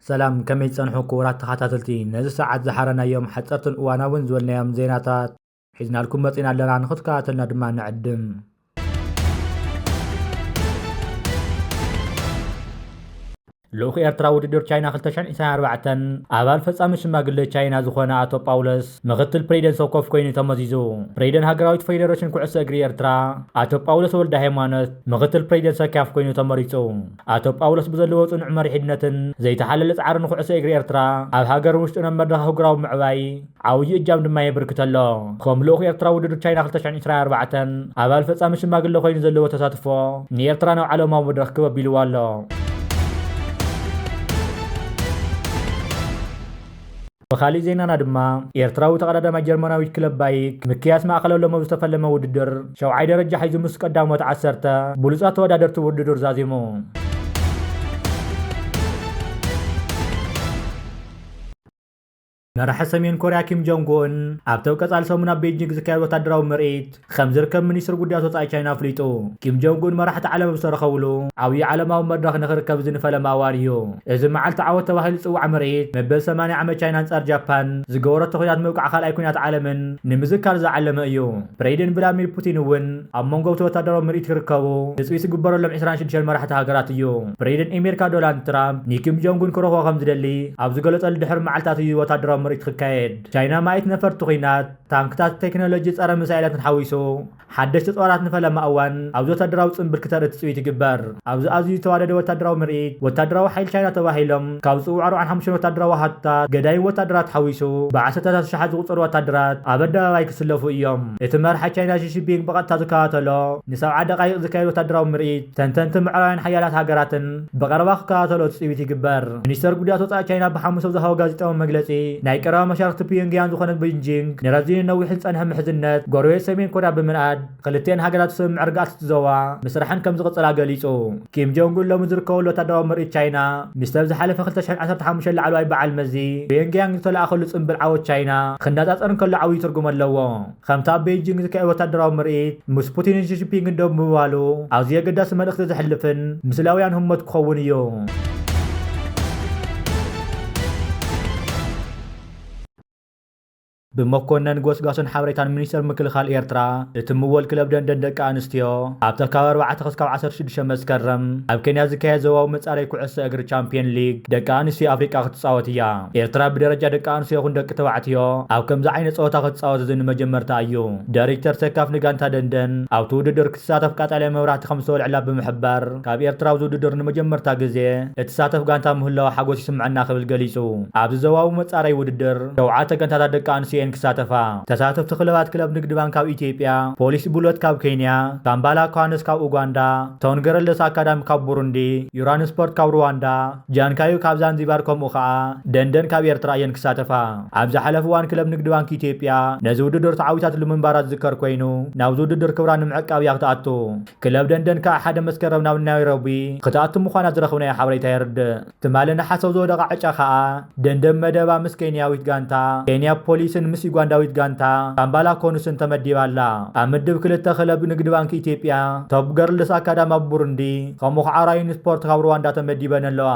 ሰላም ከመይ ትጸንሑ ክቡራት ተኸታተልቲ ነዚ ሰዓት ዝሓረናዮም ሓጸርትን እዋናውን ዝበልናዮም ዜናታት ሒዝናልኩም መጺና ኣለና ንክትከታተልና ድማ ንዕድም። ልኡኽ ኤርትራ ውድድር ቻይና 2024 ኣባል ፈጻሚ ሽማግለ ቻይና ዝኾነ ኣቶ ጳውሎስ ምክትል ፕሬዚደንት ሰኮፍ ኮይኑ ተመዚዙ። ፕሬዚደንት ሃገራዊት ፌዴሬሽን ኩዕሶ እግሪ ኤርትራ ኣቶ ጳውሎስ ወልደ ሃይማኖት ምክትል ፕሬዚደንት ሰካፍ ኮይኑ ተመሪጹ። ኣቶ ጳውሎስ ብዘለዎ ጽኑዕ መሪሕነትን ዘይተሓለለ ጻዕርን ንኩዕሶ እግሪ ኤርትራ ኣብ ሃገርን ውሽጥን ኣብ መድረኽ ኣህጉራዊ ምዕባይ ዓብዩ እጃም ድማ የብርክት ኣሎ። ከም ልኡኽ ኤርትራ ውድድር ቻይና ክልተ ሽሕን ዕስራን ኣርባዕተን ኣባል ፈጻሚ ሽማግለ ኮይኑ ዘለዎ ተሳትፎ ንኤርትራ ናብ ዓለማዊ መድረኽ ክብ ኣቢልዋ ኣሎ። ብኻሊእ ዜናና ድማ ኤርትራዊ ተቐዳዳማይ ጀርመናዊት ክለብ ባይክ ምክያስ ማእከለ ሎሚ ኣብ ዝተፈለመ ውድድር ሸውዓይ ደረጃ ሒዙ ምስ ቀዳሞት ዓሰርተ ብሉጻት ተወዳደርቲ ውድድር ዛዚሙ። መራሒ ሰሜን ኮርያ ኪም ጆንግ ኡን ኣብቲ ኣብ ቀፃሊ ሰሙን ኣብ ቤጂንግ ዝካየድ ወታደራዊ ምርኢት ከምዝርከብ ሚኒስትሪ ጉዳያት ወፃኢ ቻይና ኣፍሊጡ። ኪም ጆንግ ኡን መራሕቲ ዓለም ኣብ ዝተረኸብሉ ዓብዪ ዓለማዊ መድረኽ ንክርከብ እዚ ንፈለማ እዋን እዩ። እዚ መዓልቲ ዓወት ተባሂሉ ዝፅዋዕ ምርኢት መበል ሰማንያ ዓመት ቻይና ኣንፃር ጃፓን ዝገበረቶ ኲናት ምብቃዕ ካልኣይ ኲናት ዓለምን ንምዝካር ዝዓለመ እዩ። ፕሬይደንት ቭላድሚር ፑቲን እውን ኣብ መንጎ እቲ ወታደራዊ ምርኢት ክርከቡ ትጽቢት ዝግበረሎም ዕስራን ሽዱሽተን መራሕቲ ሃገራት እዩ። ፕሬዚደንት ኤሜሪካ ዶላንድ ትራምፕ ንኪም ጆንግ ኡን ክረኽቦ ከምዝደሊ ኣብ ዝገለጸሉ ድሕሪ መዓልታት እዩ ወታደራዊ ምርኢት ክካየድ። ቻይና ማእይት ነፈርቲ ኲናት፣ ታንክታት፣ ቴክኖሎጂ ጸረ ሚሳይላትን ሓዊሱ ሓደሽቲ ጦራት ንፈለማ እዋን ኣብዚ ወታደራዊ ጽንብል ክተርኢ ትጽቢት ይግበር። ኣብዚ ኣዝዩ ዝተዋደደ ወታደራዊ ምርኢት፣ ወታደራዊ ሓይሊ ቻይና ተባሂሎም ካብ ዝጽውዑ ኣርብዓን ሓሙሽተን ወታደራዊ ኣሃዱታት፣ ገዳይም ወታደራት ሓዊሱ፣ ብዓሰርተታት ኣሽሓት ዝቑጸሩ ወታደራት ኣብ ኣደባባይ ክስለፉ እዮም። እቲ መራሒ ቻይና ሺ ጂንፒንግ ብቐጥታ ዝከታተሎ ንሰብዓ ደቓይቕ ዝካየድ ወታደራዊ ምርኢት፣ ተንተንትን ምዕራባውያን ሓያላት ሃገራትን ብቐረባ ክከታተሎ ትጽቢት ይግበር። ሚኒስተር ጉዳያት ወጻኢ ቻይና ብሓሙስ ኣብ ዝሃቦ ጋዜጣዊ መግለጺ፣ ናይ ቀረባ መሻርኽቲ ፒዮንግያንግ ዝኾነት በይጂንግ፣ ንረዚንን ነዊሕን ዝጸንሐ ምሕዝነት ጎረቤት ሰሜን ኮርያ ብምንኣድ፣ ክልቲኤን ሃገራት ብስምምዕ ርግኣት እቲ ዞባ ምስረሐን ከምዝቕፅላ ገሊፁ። ኪም ጆንግ ኡን ሎሚ ዝርከበሉ ወታደራዊ ምርኢት ቻይና ምስቲ ኣብ ዝሓለፈ ክልተ ሽሕን ዓሰርተ ሓሙሽተን ላዕለዋይ በዓል መዚ ፒዮንግያንግ ዝተለኣኸሉ ፅምብል ዓወት ቻይና ክነፃፀር እንከሎ ዓብዪ ትርጉም ኣለዎ። ከምቲ ኣብ ቤይጂንግ ዝካየድ ወታደራዊ ምርኢት ምስ ፑቲንን ሺጂፒንግን ደው ምባሉ ኣዝዩ ኣገዳሲ መልእኽቲ ዘሕልፍን ምስላውያን ህሞት ክኸውን እዩ። ብመኮነን ጎስጋሶን ሓበሬታን ሚኒስተር ምክልኻል ኤርትራ እትምወል ክለብ ደንደን ደቂ ኣንስትዮ፣ ኣብታ ካብ ኣርባዕተ ክስካብ ዓሰርተ ሽዱሽተ መስከረም ኣብ ኬንያ ዝካየድ ዞባዊ መጻረዪ ኩዕሶ እግሪ ቻምፕየን ሊግ ደቂ ኣንስትዮ ኣፍሪቃ ክትጻወት እያ። ኤርትራ ብደረጃ ደቂ ኣንስትዮ ይኹን ደቂ ተባዕትዮ ኣብ ከምዚ ዓይነት ጸወታ ክትጻወት እዚ ንመጀመርትኣ እዩ። ዳይሪክተር ሴካፍ ንጋንታ ደንደን ኣብቲ ውድድር ትሳተፍ ቀጠልያ መብራህቲ ከም ዝተወልዐላ ብምሕባር፣ ካብ ኤርትራ ኣብዚ ውድድር ንመጀመርታ ግዜ እትሳተፍ ጋንታ ምህላዋ ሓጎስ ይስምዐና ክብል ገሊጹ። ኣብዚ ዞባዊ መጻረዪ ውድድር ሸውዓተ ጋንታታት ደቂ ኣንስትዮ እየን ክሳተፋ። ተሳተፍቲ ክለባት ክለብ ንግድ ባንክ ካብ ኢትዮጵያ፣ ፖሊስ ቡለት ካብ ኬንያ፣ ካምባላ ኳነስ ካብ ኡጋንዳ፣ ቶን ገረለስ ኣካዳሚ ካብ ቡሩንዲ፣ ዩራን ስፖርት ካብ ሩዋንዳ፣ ጃንካዩ ካብ ዛንዚባር ከምኡ ከኣ ደንደን ካብ ኤርትራ እየን ክሳተፋ። ኣብ ዝሓለፍ እዋን ክለብ ንግዲ ባንኪ ኢትዮጵያ ነዚ ውድድር ተዓዊታትሉ ምንባራ ዝዝከር ኮይኑ ናብዚ ውድድር ክብራ ንምዕቃብ እያ ክትኣቱ። ክለብ ደንደን ከኣ ሓደ መስከረም ናብ ናይሮቢ ክትኣቱ ምዃና ዝረኽብናዮ ሓበሬታ የርድእ። ትማሊ ነሓስ ኣብ ዝወደቓ ዕጫ ከኣ ደንደን መደባ ምስ ኬንያዊት ጋንታ ኬንያ ፖሊስን ምስ ዩጋንዳዊት ጋንታ ካምባላ ኮኑስን ተመዲባ ኣላ። ኣብ ምድብ ክልተ ክለብ ንግዲ ባንኪ ኢትዮጵያ፣ ቶፕ ገርልስ ኣካዳሚ ኣብ ቡሩንዲ ከምኡ ከኣ ራይን ስፖርት ካብ ሩዋንዳ ተመዲበን ኣለዋ።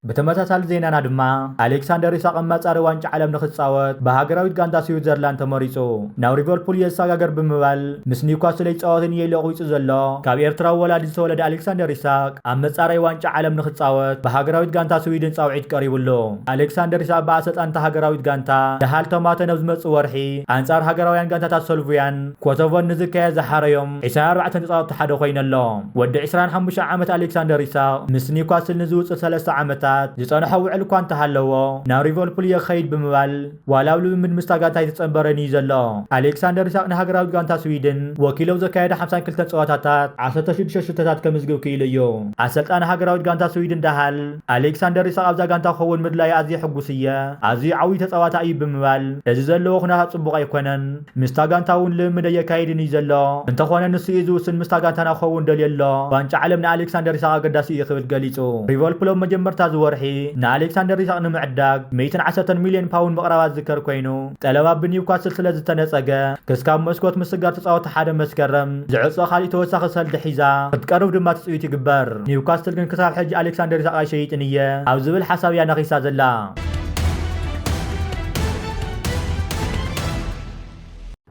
ብተመሳሳሊ ዜናና ድማ ኣሌክሳንደር ኢሳቅ መፃሪ ዋንጫ ዓለም ንክፃወት ብሃገራዊት ጋንታ ስዊዘርላንድ ተመሪፁ ናብ ሊቨርፑል የሰጋገር ብምባል ምስ ኒውካስል ይፃወት እየ ኢሉ ኣቑሪፁ ዘሎ ካብ ኤርትራዊ ወላዲ ዝተወለደ ኣሌክሳንደር ኢሳቅ ኣብ መፃረይ ዋንጫ ዓለም ንክፃወት ብሃገራዊት ጋንታ ስዊድን ፃውዒት ቀሪቡሉ ኣሌክሳንደር ኢሳቅ ብኣሰልጣኒታ ሃገራዊት ጋንታ ደሃል ተማተ ነብዝመፅእ ወርሒ ኣንፃር ሃገራውያን ጋንታታት ሰልቭያን ኮሶቮን ንዝከ ዝሓረዮም ዒስራን ኣርባዕተን ተጻወትቲ ሓደ ኮይኑ ኣሎ። ወዲ ዒስራን ሓሙሽተ ዓመት ኣሌክሳንደር ኢሳቕ ምስ ኒውካስል ንዝውጽእ ሰለስተ ዓመታት ዝጸንሖ ውዕል እኳ እንተሃለዎ ናብ ሪቨልፑል እየ ክኸይድ ብምባል ዋላ ኣብ ልምምድ ምስታ ጋንታ ኣይተጸንበረን እዩ ዘሎ። ኣሌክሳንደር ኢሳቕ ንሃገራዊት ጋንታ ስዊድን ወኪሉ ኣብ ዘካየዶ ሓምሳን ክልተን ጸወታታት ዓሰርተ ሽዱሽተ ሽቶታት ከምዝግብ ክኢሉ እዩ። ኣሰልጣኒ ሃገራዊት ጋንታ ስዊድን ዳሃል ኣሌክሳንደር ኢሳቕ ኣብዛ ጋንታ ክኸውን ምድላዩ ኣዝየ ሕጉስ እየ፣ ኣዝዩ ዓብዩ ተጻዋታይ እዩ ብምባል እዚ ዘለዎ ኩነታት ጽቡቕ ኣይኮነን፣ ምስታ ጋንታ እውን ልምምድ ኣየካይድን እዩ ዘሎ። እንተኾነ ንሱ እዩ ዝውስን ምስታ ጋንታና ክኸውን ደልዮ ኣሎ። ዋንጫ ዓለም ንኣሌክሳንደር ኢሳቕ ኣገዳሲ እዩ ክብል ገሊጹ። ሊቨርፑል ኣብ መጀመርታ እዚ ወርሒ ንኣሌክሳንደር ኢሳቕ ንምዕዳግ ሚእትን ዓሰርተን ሚልዮን ፓውንድ ምቕራባ ዝዝከር ኮይኑ፣ ጠለብ ኣብ ብኒውካስል ስለ ዝተነጸገ ክስካብ መስኮት ምስጋር ተጻወትቲ ሓደ መስከረም ዝዕጾ ካልእ ተወሳኺ ሰልዲ ሒዛ ክትቀርብ ድማ ትጽቢት ይግበር። ኒውካስትል ግን ክሳብ ሕጂ ኣሌክሳንደር ኢሳቕ ኣይሸይጥን እየ ኣብ ዝብል ሓሳብ እያ ነኺሳ ዘላ።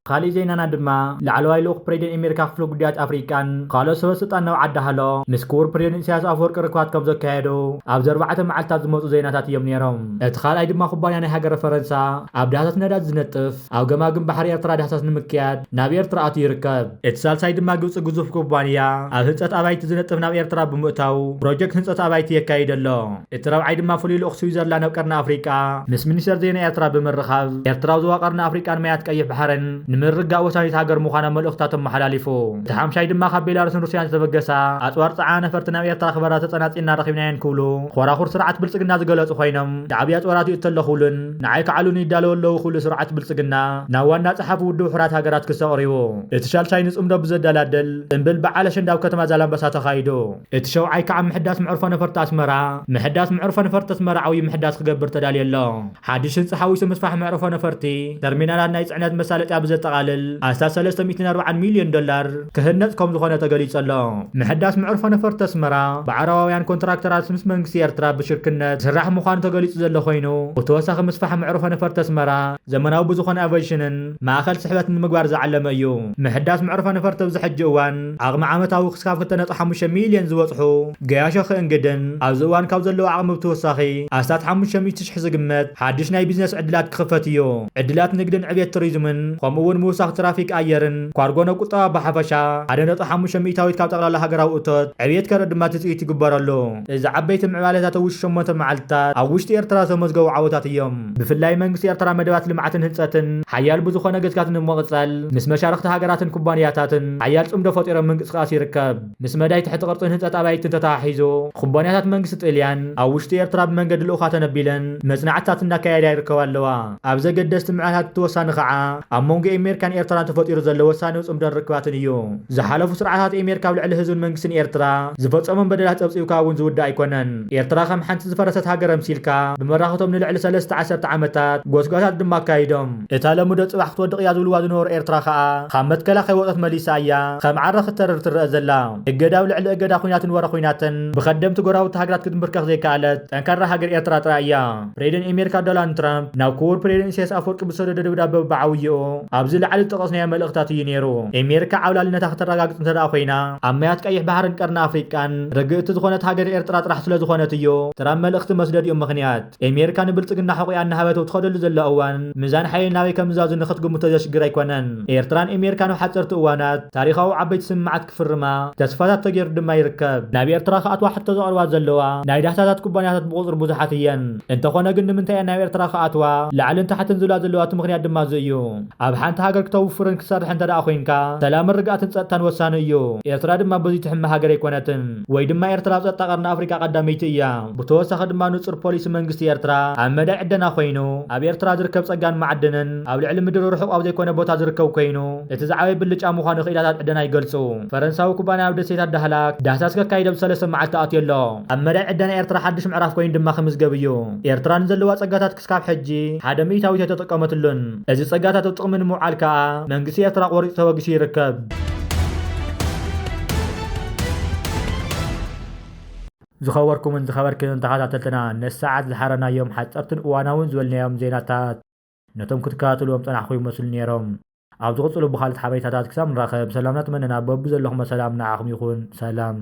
ካሊእ ዜናና ድማ ላዕለዋይ ልኡኽ ፕሬዚደንት ኣሜሪካ ክፍሊ ጉዳያት ኣፍሪቃን ካልኦት ሰበስልጣን ናብ ዓዲ ሃሎ ምስ ክቡር ፕሬዚደንት ኢሳያስ ኣፈወርቂ ርክባት ከም ዘካየዱ ኣብዚ ኣርባዕተ መዓልትታት ዝመፁ ዜናታት እዮም ነይሮም። እቲ ካልኣይ ድማ ኩባንያ ናይ ሃገረ ፈረንሳ ኣብ ዳህሳስ ነዳዲ ዝነጥፍ ኣብ ገማግም ባሕሪ ኤርትራ ዳህሳስ ንምክያድ ናብ ኤርትራ ኣትዩ ይርከብ። እቲ ሳልሳይ ድማ ግብፂ ግዙፍ ኩባንያ ኣብ ህንፀት ኣባይቲ ዝነጥፍ ናብ ኤርትራ ብምእታው ፕሮጀክት ህንፀት ኣባይቲ የካይድ ኣሎ። እቲ ራብዓይ ድማ ፍሉይ ልኡኽ ስዊዘርላንድ ኣብ ቀርኒ ኣፍሪቃ ምስ ሚኒስተር ዜና ኤርትራ ብምርኻብ፣ ኤርትራ ኣብ ዞባ ቀርኒ ኣፍሪቃን ማያት ቀይሕ ባሕርን ንምርግጋእ ወሳኒት ሃገር ምዃና መልእኽትታቶም ኣመሓላሊፉ። እቲ ሓምሻይ ድማ ካብ ቤላሩስን ሩስያን ዝተበገሳ ኣጽዋር ጸዓና ነፈርቲ ናብ ኤርትራ ክበራ ተጸናጺልና ረኺብናየን ክብሉ ኾራኹር ስርዓት ብልጽግና ዝገለጹ ኾይኖም፣ ሻዕብያ ኣጽዋር ኣትዩ እተለኹሉን ንዓይ ክዓሉኒ ይዳለዉ ኣለዉ ክብሉ ስርዓት ብልጽግና ናብ ዋና ጸሓፊ ውድብ ሕራት ሃገራት ክሲ ኣቕሪቡ። እቲ ሻልሻይ ንጽምዶ ብዘደላድል ጽንብል በዓል ኣሸንዳ ኣብ ከተማ ዛላምበሳ ተኻይዱ። እቲ ሸውዓይ ክኣ ምሕዳስ መዕርፎ ነፈርቲ ኣስመራ ምሕዳስ መዕርፎ ነፈርቲ ኣስመራ ዓውዪ ምሕዳስ ክገብር ተዳልዮ ኣሎ። ሓድሽ ህንጻ ሓዊሱ ምስፋሕ መዕርፎ ነፈርቲ፣ ተርሚናላት ናይ ጽዕነት መሳለጥያ ብዘጠቓልል ኣስታት ሰለስተ ሚእትን ኣርብዓን ሚልዮን ዶላር ክህነጽ ከምዝኾነ ተገሊጹ ኣሎ። ምሕዳስ መዕርፎ ነፈርቲ ኣስመራ ብዓረባውያን ኮንትራክተራት ምስ መንግስቲ ኤርትራ ብሽርክነት ዝስራሕ ምዃኑ ተገሊጹ ዘሎ ኮይኑ፣ ብተወሳኺ ምስፋሕ መዕርፎ ነፈርቲ ኣስመራ ዘመናዊ ብዝኾነ ኣቬሽንን፣ ማእኸል ስሕበት ንምግባር ዝዓለመ እዩ። ምሕዳስ መዕርፎ ነፈርቲ ኣብዚ ሕጂ እዋን ዓቕሚ ዓመታዊ ክስካብ ክልተ ነጥቢ ሓሙሽተ ሚሊየን ዝበፅሑ ገያሾ ክእንግድን ኣብዚ እዋን ካብ ዘለዎ ዓቕሚ ብትወሳኺ ኣስታት ሓሙሽተ ሚእቲ ሽሕ ዝግመት ሓዱሽ ናይ ቢዝነስ ዕድላት ክኽፈት እዩ። ዕድላት ንግድን ዕብየት ቱሪዝምን ከምኡ እውን ምውሳኽ ትራፊክ ኣየርን ኳርጎ ንቁጠባ ብሓፈሻ ሓደ ነጥቢ ሓሙሽተ ሚእታዊት ካብ ጠቕላላ ሃገራዊ እቶት ዕብየት ከርኢ ድማ ትፅቢት ይግበረሉ። እዚ ዓበይቲ ምዕባለታት ኣብ ውሽጢ ሸሞንተ መዓልትታት ኣብ ውሽጢ ኤርትራ ዝተመዝገቡ ዓወታት እዮም። ብፍላይ መንግስቲ ኤርትራ መደባት ልምዓትን ህንጸትን ሓያል ብዝኾነ ገዝካት ንምቕጻል ምስ መሻርኽቲ ሃገራትን ኩባንያታትን ሓያል ጽምዶ ፈጢሮም ምንቅስቓስ ይርከብ። ምስ መዳይ ትሕቲ ቅርጽን ህንጸት ኣባይትን ተተሓሒዙ ኩባንያታት መንግስቲ ጥልያን ኣብ ውሽጢ ኤርትራ ብመንገዲ ልኡኻት ኣነቢለን መጽናዕትታት እናካየዳ ይርከባ ኣለዋ። ኣብ ዘገደስቲ ምዕራታት እቲ ወሳኒ ከኣ ኣብ መንጎ ኤሜርካን ኤርትራን ተፈጢሩ ዘሎ ወሳንው ጽምዶን ርክባትን እዩ። ዝሓለፉ ስርዓታት ኤሜርካ ኣብ ልዕሊ ህዝብን መንግስትን ኤርትራ ዝፈጸሞም በደላት ጸብጺብካ እውን ዝውዳእ ኣይኮነን። ኤርትራ ከም ሓንቲ ዝፈረሰት ሃገር ኣምሲልካ፣ ብመራኽቶም ንልዕሊ ሰለስተ ዓሰርተ ዓመታት ጎስጓሳት ድማ ኣካይዶም። እታ ሎሚ'ዶ ጽባሕ ክትወድቕ እያ ዝብልዋ ዝነበሩ ኤርትራ ከኣ፣ ካብ መትከላ ከይወጸት መሊሳ እያ ከም ዓረ ክትተርር ትረኣ ዘላ። እገዳ ኣብ ልዕሊ እገዳ፣ ኵናትን ወረ ኵናትን ብከደምቲ ጎረባብቲ ሃገራት ክትምብርከኽ ዘይከኣለት ጠንካራ ሃገር ኤርትራ ጥራይ እያ። ፕሬደን ኤሜርካ ዶላንድ ትራምፕ ናብ ኩቡር ፕሬደን ኢሳያስ ኣፍወርቂ ብዝሰደዶ ደብዳበ ብዓውየኡ ኣብዚ ላዕሊ ዝጠቐስናዮ መልእኽታት እዩ ነይሩ። ኤሜርካ ዓብላልነታ ክተራጋግጽ እንተደኣ ኮይና ኣብ ማያት ቀይሕ ባሕርን ቀርኒ ኣፍሪቃን ርግእቲ ዝኾነት ሃገር ኤርትራ ጥራሕ ስለዝኾነት እዩ። ትራምፕ መልእኽቲ መስደዲኡ ምኽንያት ኤሜርካ ንብልጽግና ሕቑኣ እናሃበት ኣብ ትኸደሉ ዘላ እዋን ምዛን ሓይሊ ናበይ ከምዝዛዙ ንኽትግምቶ ዘሽግር ኣይኮነን። ኤርትራን ኤሜርካን ኣብ ሓጸርቲ እዋናት ታሪኻዊ ዓበይቲ ስምምዓት ክፍርማ ተስፋታት ተገይሩ ድማ ይርከብ። ናብ ኤርትራ ክኣትዋ ሕቶ ዘቕርባ ዘለዋ ናይ ዳህሳሳት ኩባንያታት ብቑጽሪ ብዙሓት እየን። እንተኾነ ግን ንምንታይ እየን ናብ ኤርትራ ክኣትዋ ላዕልን ታሕትን ዝብላ ዘለዋ እቲ ምኽንያት ድማ እዚ እዩ። ኣብ ሓንቲ ሃገር ክተውፍርን ክትሰርሕን እንተደኣ ኮይንካ ሰላምን ርግኣትን ጸጥታን ወሳኒ እዩ። ኤርትራ ድማ በዚ ትሕመ ሃገር ኣይኮነትን። ወይ ድማ ኤርትራ ኣብ ጸጥታ ቀርኒ ኣፍሪቃ ቀዳመይቲ እያ። ብተወሳኺ ድማ ንጹር ፖሊሲ መንግስቲ ኤርትራ ኣብ መዳይ ዕደና ኮይኑ፣ ኣብ ኤርትራ ዝርከብ ጸጋን ማዕድንን ኣብ ልዕሊ ምድሪ ርሑቕ ኣብ ዘይኮነ ቦታ ዝርከብ ኮይኑ፣ እቲ ዝዓበየ ብልጫ ምዃኑ ክኢላታት ዕደና ይገልጹ። ፈረንሳዊ ኩባንያ ኣብ ደሴታት ዳህላክ ዳህሳስ ከካይድ ኣብ ሰለስተ መዓልቲ ኣትዩ ኣሎ። ኣብ መዳይ ዕደና ኤርትራ ሓድሽ ምዕራፍ ኮይኑ ድማ ክምዝገብ እዩ። ኤርትራ ንዘለዋ ጸጋታት ክስካብ ሕጂ ሓደ ሚእታዊት ኣይተጠቀመትሉን። እዚ ጸጋታት ኣብ ጥቕሚ ንምውዓል ከኣ መንግስቲ ኤርትራ ቆሪጹ ተበጊሱ ይርከብ። ዝኸበርኩምን ዝኸበርክንን ተኸታተልትና ነዚ ሰዓት ዝሓረናዮም ሓጸርትን እዋናውን ዝበልናዮም ዜናታት፣ ነቶም ክትከታተልዎም ዝጸናሕኩ ይመስሉ ኔሮም። ኣብ ዝቕጽሉ ብኻልት ሓበሬታታት ክሳብ ንራኸብ ሰላምና ትመነና በብዘለኹሞ ሰላም ንዓኹም ይኹን ሰላም።